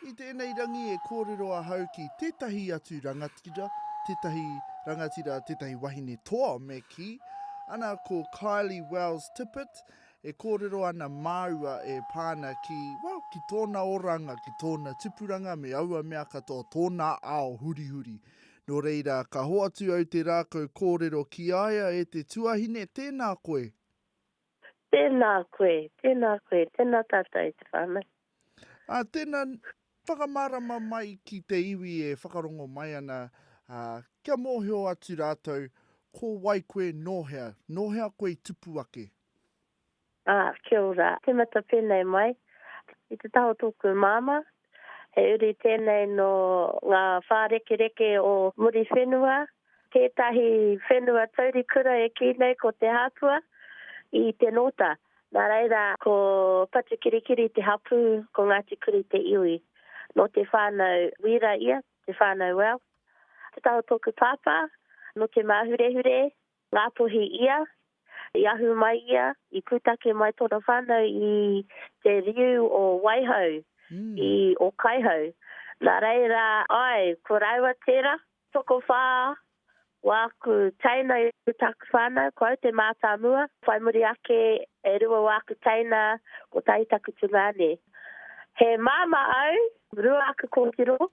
I tēnei rangi e kōrero ahau ki tētahi atu rangatira, tētahi rangatira, tētahi wahine toa me kī. Ana ko Kylie Wells Tippett, e kōrero ana māua e pā ana ki, well, ki tōna oranga, ki tōna tipuranga me aua mea katoa, tōna ao hurihuri. Nō reira, ka hoatu au te rākau kōrero ki a ia e te tuahine, tēnā koe. Tēnā koe, tēnā koe, tēnā tātou i te whānau. Ā, tēnā, whakamārama mai ki te iwi e whakarongo mai ana, ā, kia mōhio atu rātou ko wai koe, nō hea, nō hea koe i tupu ake. Ā, kia ora, tīmata pēnei mai, i te taha o tōku māmā, He uri tēnei nō ngā whārekereke o Muriwhenua, tētahi whenua taurikura e kī nei ko Te Hāpua i Te Nōta. Nā reira, ko Patukirikiri te hapū, ko Ngāti Kuri te iwi. Nō te whānau Wīra ia, te whānau Wells. Te Tahotokupāpā, nō Te Māhurehure, Ngāpuhi ia, i ahu mai ia, i pūtake mai tōna whānau i te riu o Waihau, i Ōkaihau. Nā reira, āe, ko rāua tērā, tokowhā wā aku teina i roto i tāku whānau, ko au te mātāmua, whai muri ake, e rua wā aku teina, kotahi taku tungāne. He māmā au, rua aku kōtiro,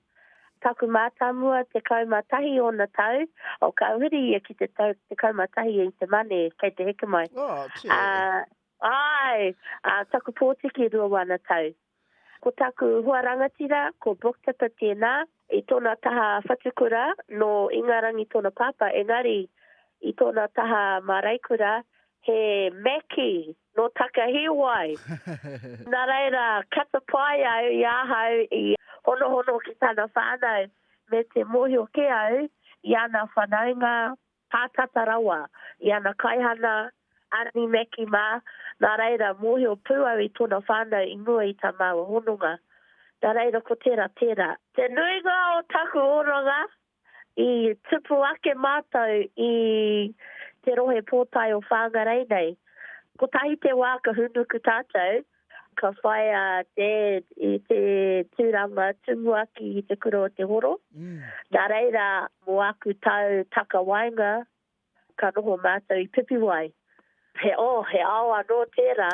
Taku mātāmua, tekau mā tahi ōna tau, o ka huri ia ki te tau tekau mā tahi i te Mane, kei te heke mai. Oh, tē. Ā, āe, ā, taku pōtiki rua wāna tau. Ko taku hoa rangatira, ko Brooktipper tēnā, i tōna taha whatukura, nō Ingarangi tōna pāpā, engari, i tōna taha māraikura, he Mackie. nō Takahiwai. Nā reira, ka tapae au i ahau i honohono ki tana whānau me te mōhio kē au i ana whanaunga pātata rawa, i ana kaihana, Arni Maki mā, nā reira, mōhio pū au i tōna whānau i mua i tā māua hononga. Nā reira, ko tērā, tērā. Te nuinga o taku oranga, I tupu ake mātou i Te Rohe Pōtae o Whāngarei nei. Kotahi te wā ka hūnuku tātou, ka whai a Dad i te tūranga tumuaki i te Kura o Te Horo. Nā reira, mō aku tau takawaenga, Ka noho mātou i Pipiwai. He, oh, he ao anō tērā.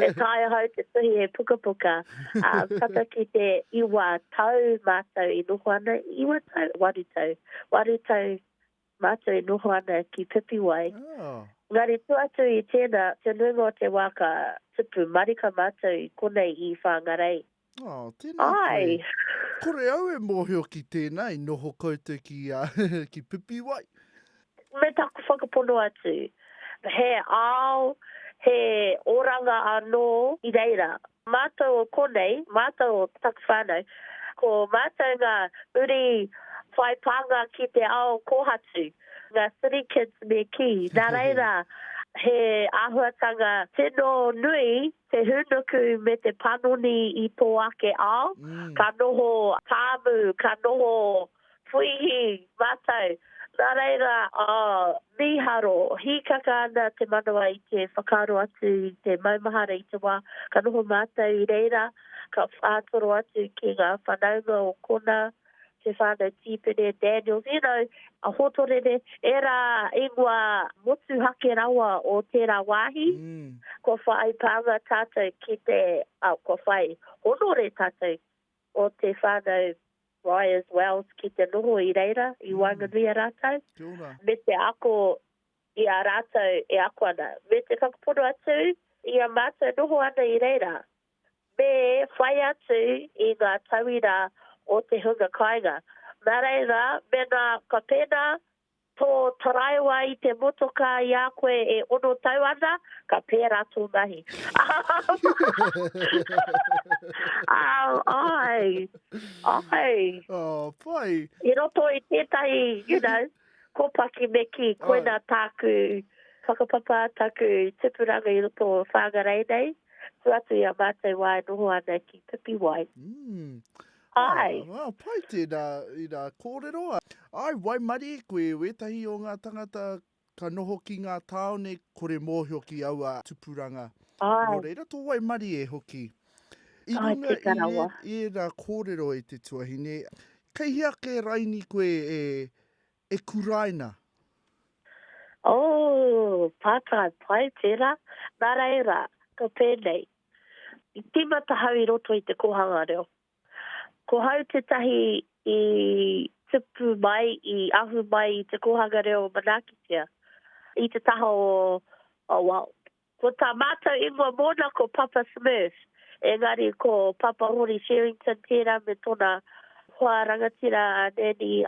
E taea ahau te tuhi he pukapuka. Ā, tata ki te iwa tau mātou i noho ana, iwa tau? Waru tau. Waru tau mātou i noho ana ki Pipiwai. Engari tua atu i tēnā, te nuinga o te wā ka tupu marika mātou i konei i Whāngarei. Oh, tēnā koe. Kore au e mōhio ki tēnā, i noho koutou ki, ki Pipiwai. Me taku whakapono atu, he ao, he oranga anō i reira. Mātou o konei, mātou o taku whānau, ko mātou ngā uri whai pānga ki te ao kōhatu, ngā city kids me kī. Nā reira, he āhuatanga tino nui te hūnuku me te panoni i tō ake ao, ka noho pāmu, ka noho puihi mātou. Nā reira, mīharo, hīkaka ana te manawa i te whakaaro atu i te maumahara i te wā, ka noho mātou i reira, ka whātoro atu ki ngā whanaunga o konā, te whānau tīpene Daniels, you know, a Hotorere, ērā ingoa motuhake rawa o tērā wāhi, kua whai pānga tātou ki te, ā, kua whai honore tātou o te whānau Briars Wells ki te noho i reira, i waenganui a rātou, me te ako i a rātou e ako ana, me te whakapono atu i a mātou noho ana i reira. Me whai atu i ngā tauira o te hunga kāinga. Nā reira, mēnā ka pēnā tō taraiwa i te motokā i a koe e ono tau ana, ka pērā tō mahi. Āe, āe. Āe. I roto i tētahi, you know. Ko Paki Meki, koina tāku whakapapa, taku tipuranga i roto o Whangarei nei, tu atu i a mātou wā e noho ana ki Pipiwai. Mm. Ai. Ah, ah, pai tēnā i nā kōrero. Ai, waimarie koe wētahi o ngā tangata ka noho ki ngā tāone kore mōhio ki aua tupuranga. Ai. Nō reira, tō waimarie hoki. I runga i, e, i ērā kōrero e te tuahine, Kei hea ke raini koe e, e kuraina? Oh, pātai pai tērā. Nā reira, ko tēnei. I tīmata hau i roto i te kōhanga reo. Ko hau tētahi i tupu mai, i ahu mai i te kōhanga reo manaakitia i te taha o, well, Ko tā mātou ingoa mōna ko Papa Smurf, engari ko Papa Hori Sherrington tērā me tōna hoa rangatira a Nanny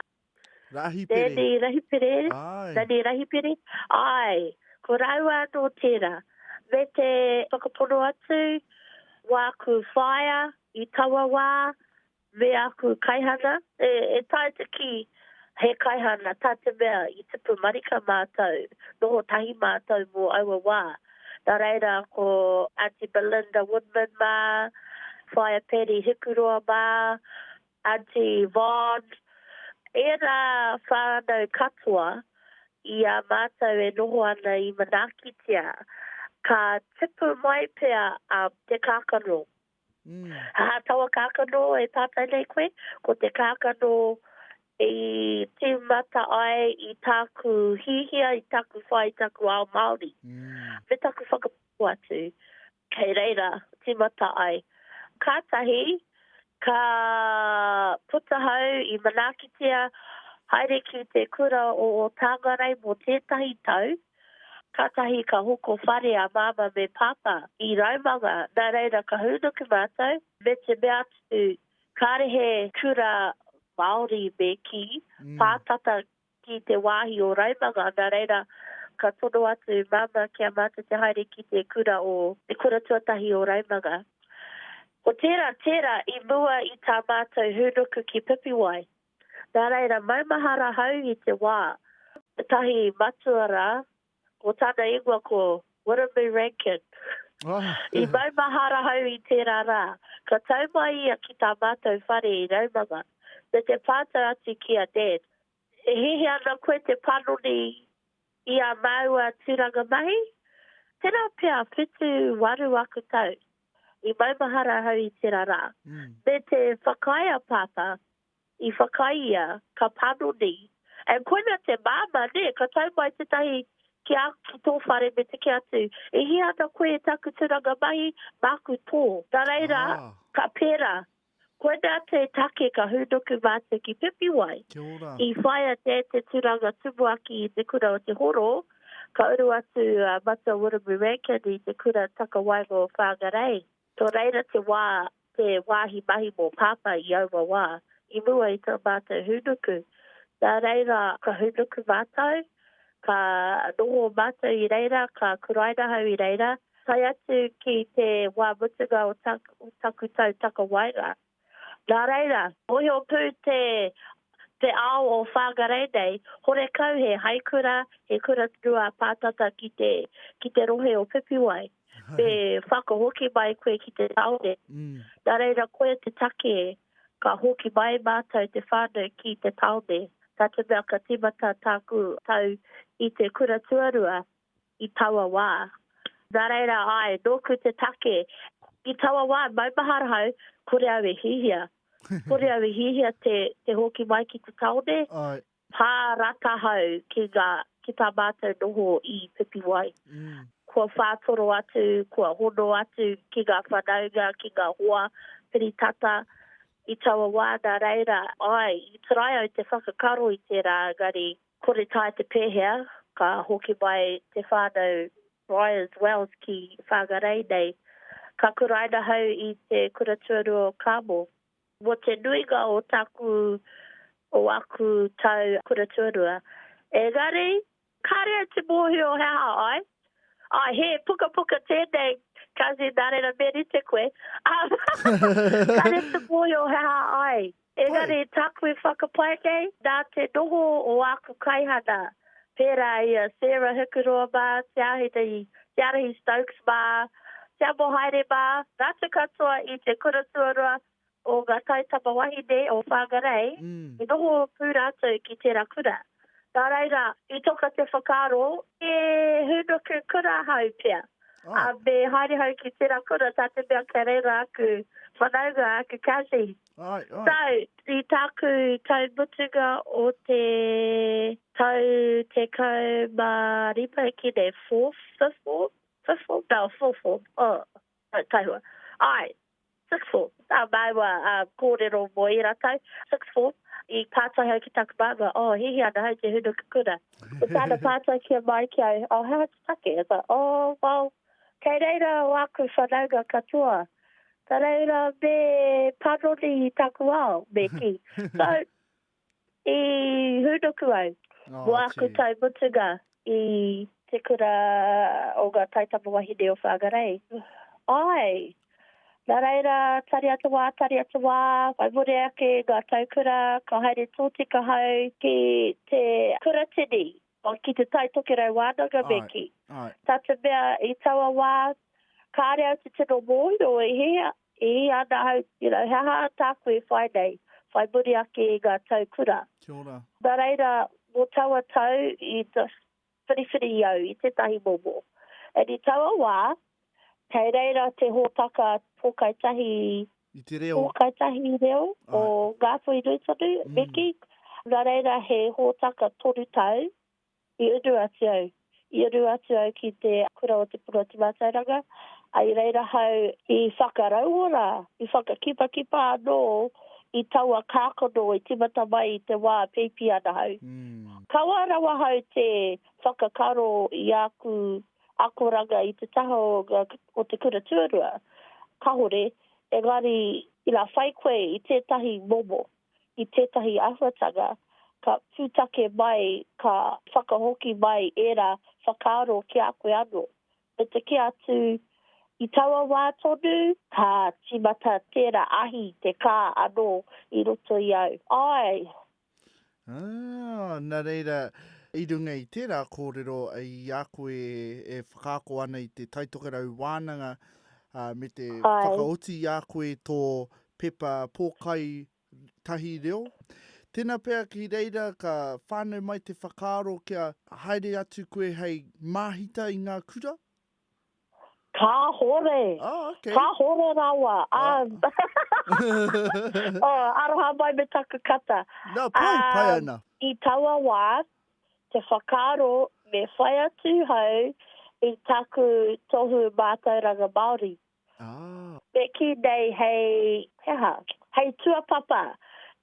Rahipere. Nanny Rahipere? Āe. Nanny Rahipere? Āe, ko rāua anō tērā. Me te whakapono atu, wāku whaea, i taua wā, Me aku kaihana, E taea te kī, he kaihana tā te mea i tipu marika mātou, noho tahi mātou mō aua wā. Nā reira, ko Aunty Belinda Woodman mā, Whaea Paddy Hikuroa mā, Aunty Yvonne, ērā whānau katoa i a mātou e noho ana i Manaakitia, ka tipu mai pea te kākano Aha taua kākano e pātai nei koe? Ko te kākano i tīmata ai i tāku hihia, i tāku whai, i tāku ao Māori. Me tāku whakapono atu, kei reira tīmata ai. Kātahi, ka puta hau i manaakitia, haere ki te kura o Tāngarei mō tētahi tau, Kātahi ka hoko whare a Māmā me Pāpā i Raumanga, nā reira ka hūnuku mātou, me te mea atu, kāre he kura Māori me kī, pā tata ki te wāhi o Raumanga, nā reira ka tono atu Māmā ki a mātou te haere ki te kura o, te kura tuatahi o Raumanga. Ko tērā, tērā i mua i tā mātou hūnuku ki Pipiwai, Nā reira, maumahara ahau i te wā. Tētahi matua rā, ko tāna ingoa ko Wiremu Rankin. I maumahara ahau i tērā rā. Ka tau mai ia ki tā mātou whare i Raumanga, me te pātai atu ki a Dad, E hiahia ana koe te panoni i ā māua tūranga mahi? Tērā pea, whitu, waru aku tau. I maumahara ahau i tera ra. Me te whakaae a Papa, i whakaae ia, ka panoni. And koina te Mama, ne, ka tau mai tetahi ki a, ki to whare me te ke atu, E hia ana koe e taku turanga mahi, maku to. Na reira, ka pera, Kua tea te take ka hūnuku mātou ki Pipiwai. Kia ora. I whaia te te turanga tumuaki i te kura o Te Horo, ka uru atu a Matua Wiremu Rankin i te kura takawaenga o Whangarei. Nō reira te wā, te wāhi mahi mō Pāpā i aua wā, i mua i tā mātou hūnuku. Nā reira ka hūnuku mātou, ka noho mātou i reira, ka kuraina hau i reira, tae atu ki te wā mutunga o taku tau takawaenga. Nā reira, mōhio pū te ao o Whangarei nei, horekau he haikura, he kura rua pātata ki te rohe o Pipiwai. te whakahoki mai koe ki te taone. Mm. Nā reira koe te take, ka hoki mai mātou te whānau ki te taone. Tā te mea ka tīmata tāku tau i te kura tuarua i taua wā. Nā reira, ai, nōku te take. I taua wā, maumahara hau, kore au e hihia. Kore au e hihia te, te hoki mai ki te taone. Ai. Pā rakahau ki ngā, ki tā mātou noho i Pipiwai. Kua whātoro atu, kua hono atu ki ngā whanaunga, ki ngā hoa piri tata i taua wā. Nā reira, āe, i try au te whakakaro i tērā, engari kore tae te pēhea, ka hoki mai te whānau Briars Wells ki Whangarei nei. Ka kuraina hau i te kura tuarua o Carmel. Mo te nuinga o taku, o aku tau kura tuarua. Engari, kare au te mohio he aha ai. Ai, he pukapuka tenei, Cousin, na reira me rite koe. Kare te mohio he aha ai. Engari, taku i whakapae nei, na te noho o aku kaihana, pērā i a Sarah Hikuroa mā, Te Āhetahi, Te Arahi Stokes mā, Te Amo Haere mā, ngā atu katoa i te kura tuarua o ngā taitama wahine o Whangarei, i noho pū rātou ki tērā kura. Nā reira, i toka te whakaaro, he hūnuku kura hou pea, ā, me haere hou ki tērā kura, tā te mea kei reira aku whanaunga, aku cousins. So, i tāku tau mutunga o te tau tekau mā rima ki nei, fourth, fifth form? Fifth form? No, fourth form. Oh, no, taihua. Āe, sixth form. Ā, māua kōrero mō ērā tau, sixth form, i pātai au ki tāku māmā, oh, hīhī ana hei te hunu kukuna. I tāna pātai kia māi ki au, oh, he aha te take? I was like, oh, well, kei reira o āku whanaunga katoa, Ka reira me panoni i taku ao, me kī. So, i hūnuku au mō āku tau mutunga i te kura o ngā taitama wahine o Whangarei. Āe, nā reira, tari atu wā, tari atu wā, whai muri ake ngā tau kura, ka haere tōtika hau ki te kuratini Oh, ki te Tai Tokerau wānanga me kī. Tā te mea i taua wā, kāre au te tino mōhio e hea, e hea ana ahau, you know, he aha tāku e whai nei, whai muri ake i ngā tau kura. Kia ora. Nā reira, mō taua tau, i whiriwhiri au i tētahi momo. And i taua wā, Kei reira te hōtaka pōkai tahi reo, pōkai tahi reo o Ngāpuhi nui tonu, Miki, nā reira he hōtaka toru tau i unu atu au, i unu atu au ki te kura o Te Puna o Te Mātauranga, i reira hau i whakarauora, i whakakipakipa anō i taua kākano i timata mai i te wā e peipi ana hau. Kaua rawa hau te whakakaro i āku akoranga i te taha o nga o te kura tuarua, kahore, engari ina whai koe i tetahi momo, i tetahi ahuatanga, ka putake mai ka whakahoki mai era whakaaro ki a koe ano, me te kī atu i taua wa tonu, ka timata tera ahi te ka ano i roto i au, ae, Aa, na reira, i runga i tera korero i a koe e whakaako ana i te Taitokerau Wānanga, aa, me te whakaoti i a koe to pepa pōkai tahi reo. Tena pea ki reira ka whanau mai te whakaaro kia haere atu koe hei māhita i nga kura? Kāhore. Oh, okay. Kāhore rawa. Ah. oh, aroha mai me taku kata. No, pai, uh, pai ana. I taua wā, te whakaaro me whai atu hau i taku tohu mātauranga Māori. Te kī nei hei, he aha, hei tuapapa,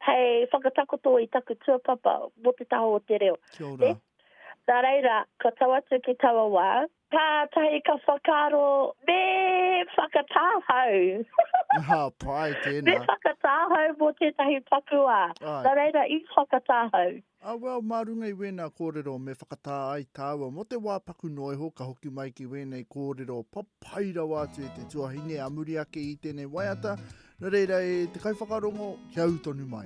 hei whakatakoto i taku tuapapa mō te taha o te reo. Kia ora. Nā reira, ka tau atu ki taua wā, kātahi ka whakaaro, me whakatāhau. Aha, pai tēnā. Me whakatāhau mō tētahi pakuā. Nā reira, i whakatāhau. A well, mā runga i wēnā kōrero me whakatā ai tāua mō te wā paku noa iho ka hoki mai ki wēnei kōrero papai rawa atu e te tuahine ā muri ake i tēnei waiata, nō reira e te kaiwhakarongo kia ū tonu mai.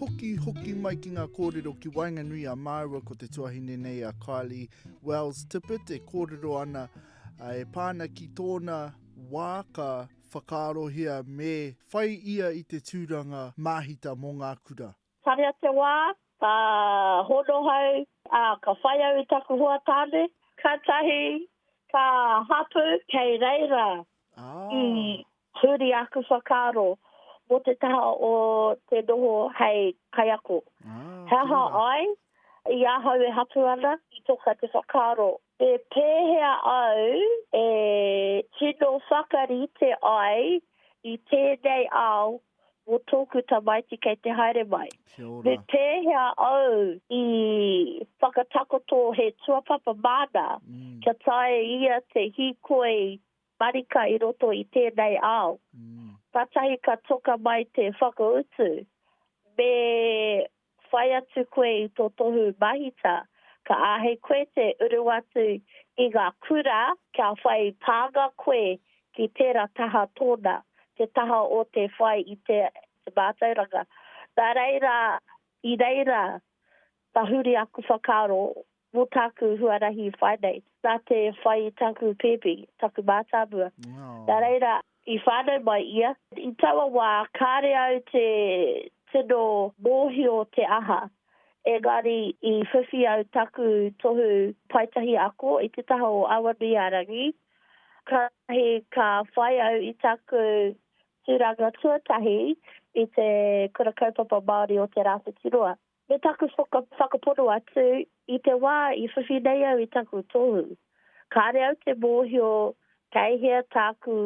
Hoki, hoki mai ki ngā kōrero ki waenganui a māua ko te tuahine nei a Kylie Wells Tippett e kōrero ana e pāna ki tōna wā ka whakaarohia me whai ia i te tūranga māhita mō ngā kura. Tarea te wā, ka hono hau, ā, ka whai au i taku hoa tāne. Kātahi ka hapū kei reira i huri aku whakaaro mō te taha o te noho hei kaiako. He aha ai i ahau e hapū ana, i toka te whakaaro He pēhea au e tino whakarite ai i tēnei ao mō tōku tamaiti kei te haere mai? Me pēhea au i whakatakoto he tuapapa māna kia taea e ia te hīkoi marika i roto i tēnei ao? Kātahi ka toka mai te whakautu, me whai atu koe i tō tohu mahita, ka āhei koe te uru atu i ngā kura kia whai pānga koe ki tērā taha tōna, te taha o te whai i te mātauranga. Nā reira, i reira tahuri aku whakaaro Mo taku huarahi whai nei, na te whai i taku pepi, taku mātāmua. Na reira, i whānau mai ia. I taua wā, kāre au te tino mōhio te aha, engari i whiwhi au taku tohu paetahi ako i te taha o Awanuiārangi, kātahi ka whai au i taku tūranga tuatahi i te Kura Kaupapa Māori o Te Rāwhitiroa. Me taku whakapono atu, i te wā i whiwhi nei au i taku tohu, kāre au te mōhio kei hea tāku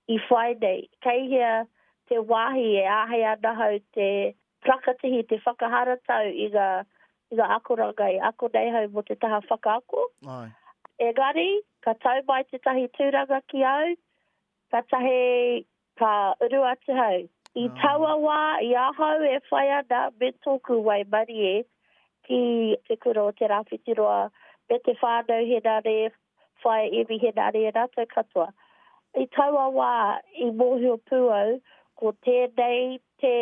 i whai nei, kei hea te wāhi e āhei ana hau te whakatihi, te whakaharatau i ngā akoranga e ako nei hau mō te taha whakaako. Engari, ka tau mai tētahi tūranga ki au, ka tahi Ka uru atu hau. I taua wā i ahau e whai ana me tōku waimarie ki te kura o Te Rāwhitiroa me te whānau Henare, Whaea Emi Henare, e rātou katoa. I taua wā i mōhio pū au ko tēnei te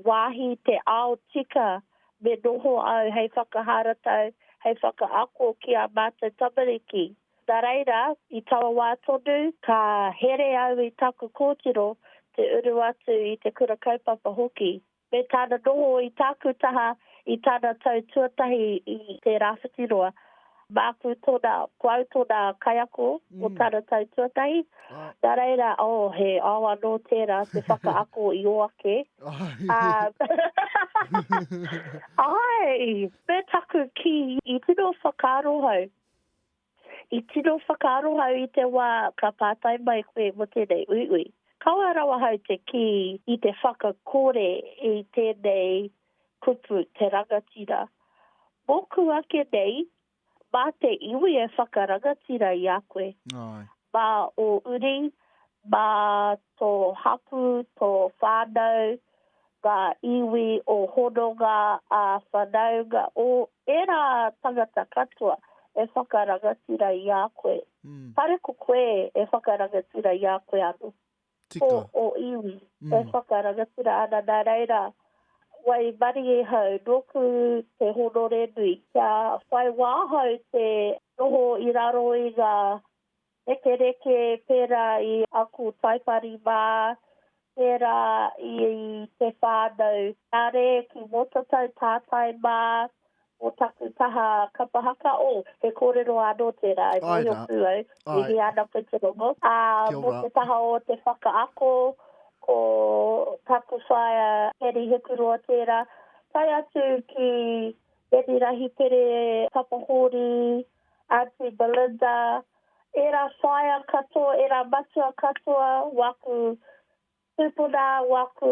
wāhi, te ao tika me noho au hei whakaharatau, hei whakaako ki ā mātou tamariki. Nā reira, i taua wā tonu, ka here au i taku kōtiro te uru atu i te Kura Kaupapa hoki, me tāna noho i tāku taha i tana tau tuatahi i te Rāwhitiroa. Māku tōna, ko au tōna kaiako o tana tau tuatahi, nā reira, oh, he ao anō tērā te whakaako i ō ake, ā, āe, me taku kī, i tino whakaarohau. I tino whakaaro hau i te wā ka pātai mai koe mō tēnei uiui. Kaua rawa hau te kī i te whakakore i tēnei kupu te rangatira. Mōku ake nei, mā te iwi e whakarangatira i a koe. Mā ō uri, mā tō hapū, tō whānau, ngā iwi o hononga ā-whanaunga, o ērā tangata katoa e whakarangatira i a koe. Kāre ko koe e whakarangatira i a koe anō. Ko ō iwi e whakarangatira ana, nā reira, waimarie hau nōku te honore nui, kia whai wā hau te noho i raro i ngā Rekereke pērā i aku taipari mā, pērā i te whānau. Kāre ki Mōtatau tātai mā, mō taku taha kapa haka, oh, he kōrero anō tērā e mōhio pū au, mihi ana koe te rongo, ā, mō te taha o te whakaako, ko taku whaea Heri Hekuroa tērā, tae atu ki Reni Rahipere Tapahōri, Aunty Belinda, era whaea katoa, era matua katoa, waku tupuna, waku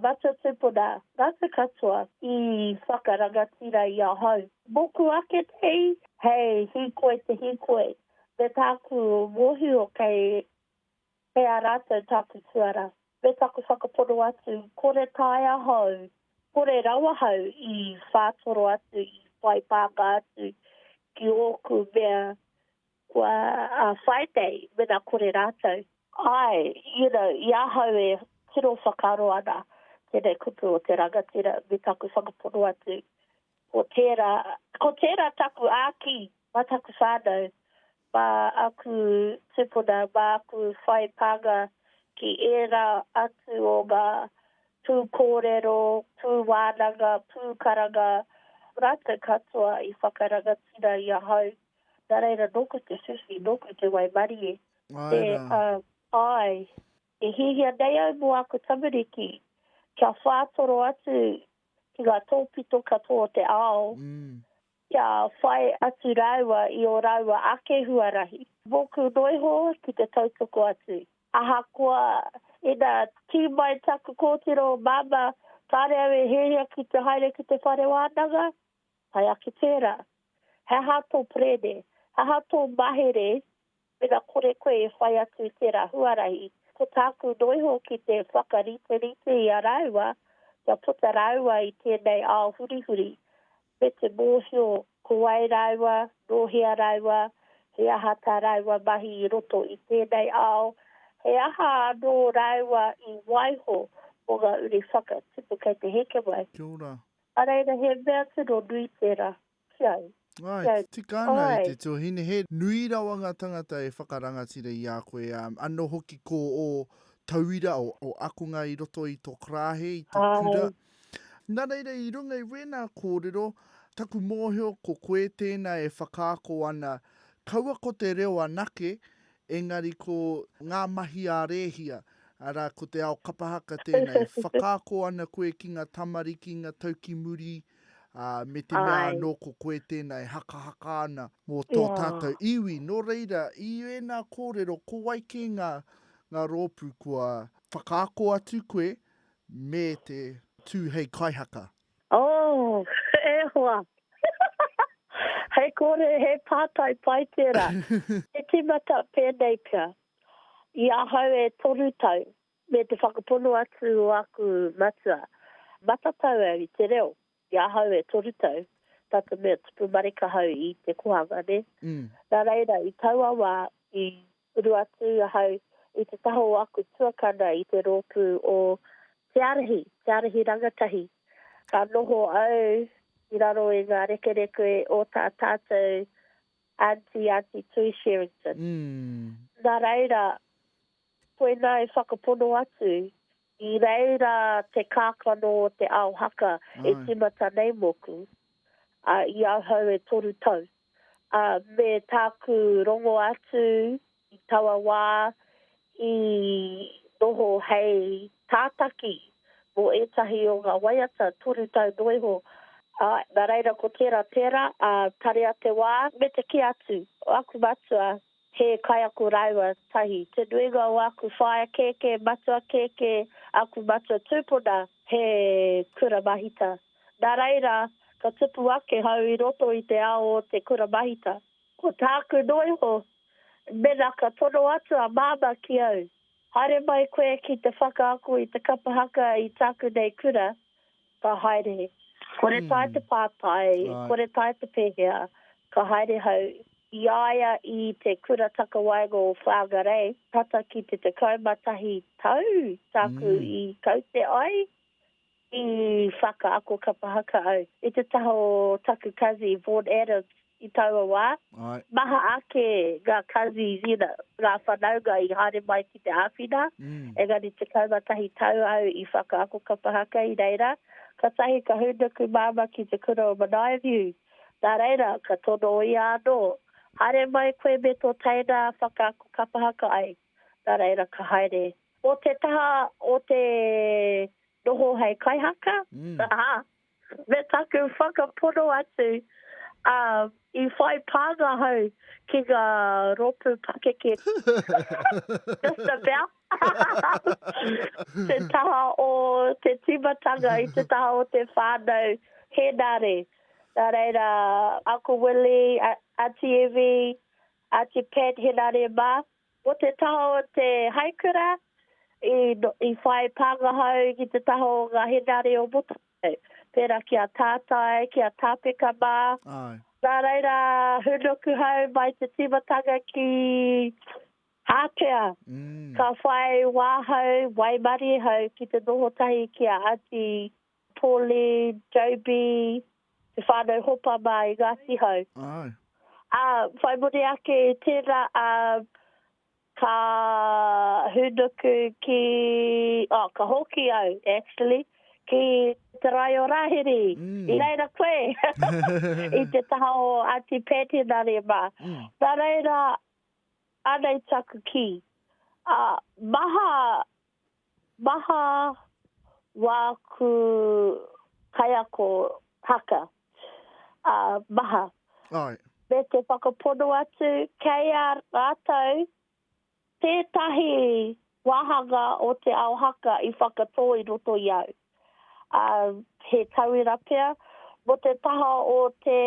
matua tupuna, ngatu katoa i whakarangatira i ahau. Moku ake nei, hei hikoi te hikoi, me taku mohio kei. Kei a rātou tāku tuara, me taku whakapono atu, kore taea hou, kore rawa hou i whātoro atu, i whai pāka atu ki ōku mea kua whai nei, mena kore rātou. Āe, you know, i ahau e tino whakaaro ana tēnei kupu o te rangatira, me taku whakapono atu, ko tērā, ko tērā taku āki mā taku whānau, mā aku tupuna, mā aku whai pānga ki ērā atu o ngā pūkōrero, pūwānanga, pūkaranga rākau katoa i whakarangatira i ahau. Nā reira, nōku te whiwhi, nōku te waimarie. Āe rā. Āe, e hiahia nei au mō aku tamariki kia whātoro atu ki ngā tōpito katoa o te ao, Kia whai atu rāua i ō rāua ake huarahi. Mōku noa iho ki te tautoko atu. Ahakoa, ina tū mai taku kōtiro o Māmā, kāre au e hiahia ki te haere ki te whare wānanga? Tae ake tērā. He aha tō perēne? He aha tō mahere Mena kore koe e whai atu i tērā huarahi, ko tāku noa iho ki te whakariterite i a rāua kia puta rāua i tēnei ao hurihuri, me te mōhio ko wai rāua, nō hea rāua, he aha tā rāua mahi i roto i tēnei ao, he aha anō rāua i waiho mō ngā uri whakatipu kei te heke mai. Kia ora. Nā reira, he mea tino nui tērā. Ki au. Ai, tika ana e te tuahine, he nui rawa ngā tangata e whakarangatira i a koe, anō hoki ko ō tauira, ō akonga i roto i tō karāhe, i tō kura. Nā reira, i runga i wēnā kōrero, taku mōhio ko koe tēnā e whakaako ana, kaua ko te reo anake, engari ko ngā mahi a Rēhia, arā, ko te ao kapa haka tēnā, e whakaako ana koe ki ngā tamariki, ngā tau ki muri, Ā, me te mea Āe. anō ko koe tēnā e hakahaka ana mō tō Ia. tātou iwi. Nō reira, i ēnā kōrero, ko wai kē ngā, ngā rōpū kua whakaako atu koe me te tū hei kaihaka? Oh, e hoa! He kore, he pātai pai tērā. He tīmata pēnei pea. I ahau e toru tau, Me te whakapono atu o aku matua, matatau au i te reo, i ahau e toru tau, tata mea tupu marika hau i te kohanga, ne. Na reira, i taua wa, i uru atu ahau i te taha o aku tuakana i te ropu o Te Arahi, Te Arahi Rangatahi, ka noho au i raro i nga rekereke o ta tatou Aunty, Aunty Tui Sherrington. Na reira, Koinā e whakapono atu, i reira te kākano o te ao haka e tīmata nei mōku, ā, i ahau e toru tau, ā, me tāku rongo atu i taua wā i noho hei tātaki mō ētahi o ngā waiata toru tau noa iho, ā, nā reira ko tērā tērā, ā, tarea te wā me te kī atu o aku matua He kaiako rāua tahi. Te nuinga o aku whaea kēkē, matua kēkē, aku matua tūpuna, he kura mahita. Nā reira, ka tupu ake hau i roto i te ao o te kura mahita. Ko tāku noa iho, mēnā ka tono atu a Māmā ki au, Haere mai koe ki te whakaako i te kapa haka i tāku nei kura, Ka haere. Kore tae te pātai, kore tae te pēhea, ka haere hau. I a ia i te Kura Takawaenga o Whangarei tata ki te 11 tau tāku i kaute ai, i whakaako kapa haka au i te taha o taku kazi, Vaughan Adams, i taua wā. Maha ake ngā cousins, you know, ngā whanaunga i haere mai ki te āwhina, engari 11 tau au i whakaako kapa haka i reira, kātahi ka hūnuku māmā ki te kura o Manaia View, nā reira, ka tono ia anō, Haere mai koe me tō teina whakaako kapa haka ai. Nā reira, ka haere. Mō te taha o te noho hei kaihaka, me taku whakapono atu, ā, i whai pānga hau ki ngā rōpū pakeke. Just about. Te taha o te tīmatanga i te taha o te whānau Henare. Nā reira, Uncle Willie, Aunty Evie, Aunty Pat Henare mā, Ko te taha o te haikura i whai pāngaha au ki te taha o ngā henare o Motuhake, pērā ki a Tātai, ki a Tāpeka mā. Nā reira, hūnuku hau mai te tīmatanga ki ātea, ka whai wā hau, waimarie hau ki te noho tahi ki a Aunty Pauline, JB, te whānau hopa mā i Ngāti Hau. Āe. Ā, whai muri ake i tērā, ā, ka hūnuku ki, oh, ka hoki au, actually, ki te rae o Rāhiri. I reira koe, i te taha o Aunty Pat Henare mā. Nā reira, anei taku kī, ā, maha Maha wāku kaiako haka, ā, maha. Āe. Me te whakapono atu, kei a rātou tētahi wāhanga o te ao haka i whakatō i roto i au, ā, he tauira pea, mō te taha o te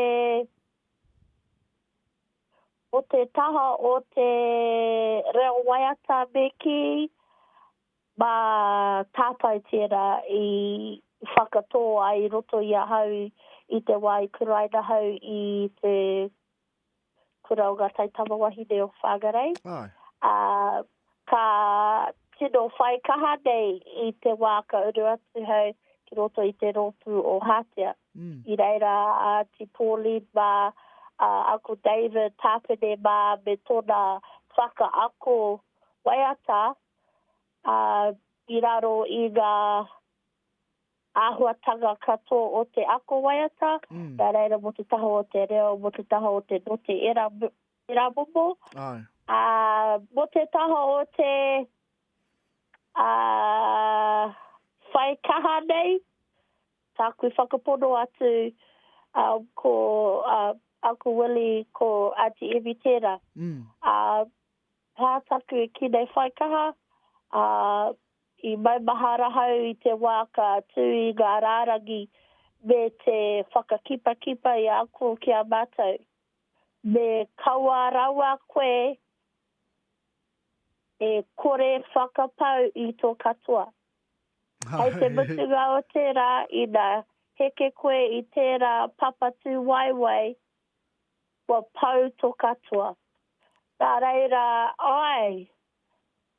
Ko te taha o te reo waiata me kī, mā tātai tērā i whakatō ai i roto i ahau i te wā i kuraina ahau i te kura o Ngā Taitama Wahine o Whangarei. Āe. Ā, Ka tino whai kaha nei i te wā ka uru atu hau ki roto i te rōpū o Hātea. I reira a Āti Pauline mā, a Uncle David Tāpene mā me tōna whakaako waiata i raro i ngā āhuatanga katoa o te ako waiata, nā reira mō te taha o te reo, mō te taha o te note, ērā te rapopo. Ai. Ā, mō te taha o te ā, whai kaha nei, tāku whakapono atu ā, ko ā, Uncle Willie, ko Aunty Evie tērā. Mm. Ā, tā taku ki nei whai kaha, ā, i maumahara hau i te wā ka tū i ngā rārangi me te whakakipakipa i ako ki a mātou. Me kaua rawa koe e kore whakapau i to katoa. Hei te mutunga o tera, ina heke koe i tera papatu waewae, kua pau to katoa. Na reira, ae,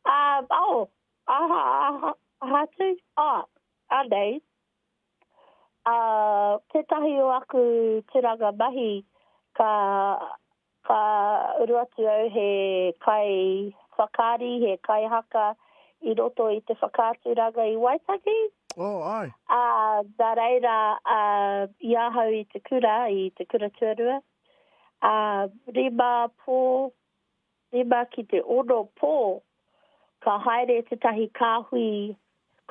a, oh, aha, aha, aha tu? Ah, anei, Ā, tētahi o aku tūranga mahi, ka, ka uru atu au he kaiwhakaari, he kaihaka i roto i te whakaaturanga i Waitangi. Oh, āe. Ā, nā reira, ā, i ahau i te kura, i te kura tuarua, ā, rima pō, Rima ki te ono pō, ka haere tētahi kāhui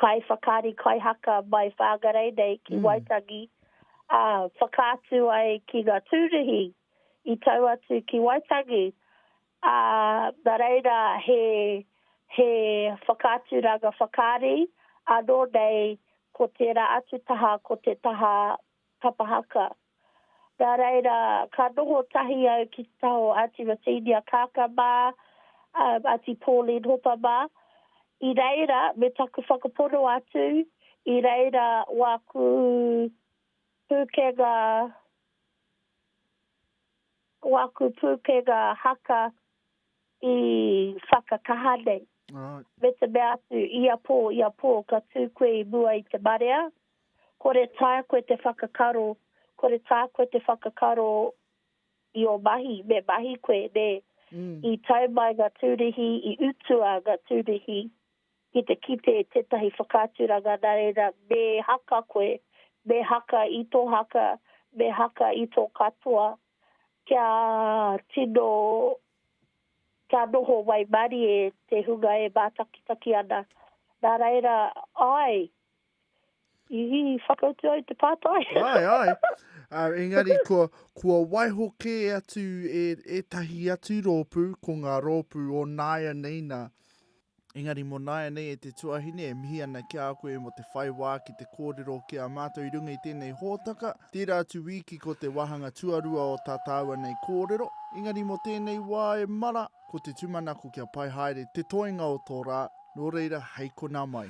kaiwhakaari kaihaka mai Whangarei nei ki Waitangi, ā, whakaatu ai ki ngā tūruhi i tau atu ki Waitangi, ā, nā reira he, he whakaaturanga whakaari anō nei ko tērā atu taha ko te taha Papa haka. Nā reira, ka noho tahi au ki te taha o Aunty Rosinia Kaaka mā, Aunty Pauline Hopa mā. I reira, me taku whakapono atu, i reira wāku pūkenga, wāku pūkenga haka i whakakaha nei. Me te mea atu, ia pō, ia pō, ka tū koe i mua i te marea. Kore tā koe te whakakaro, kore tā koe te whakakaro i ō mahi, me mahi koe, nē. I tau mai ngā tūruhi, i utua ngā tūruhi ki te kite i tētahi whakaaturanga nā reira me haka koe, me haka i tō haka, me haka i tō katoa kia tino, kia noho waimarie te hunga e mātakitaki ana. Nā reira, āe, I whakautu au te pātai. Ai, ai. Uh, engari, kua, kua waiho kē atu e, e tahi atu rōpū, ko ngā rōpū o nāia nei nā. Engari, mō nāia nei e te tuahine, e mihi ana ki a koe mō te whai wā ki te kōrero ki a mātou i runga i tēnei hōtaka. Tērā atu wīki ko te wāhanga tuarua o tā tāua nei kōrero. Engari, mō tēnei wā e mara, ko te tūmanako kia pai haere te toenga o tō rā, nō reira, hei konā mai.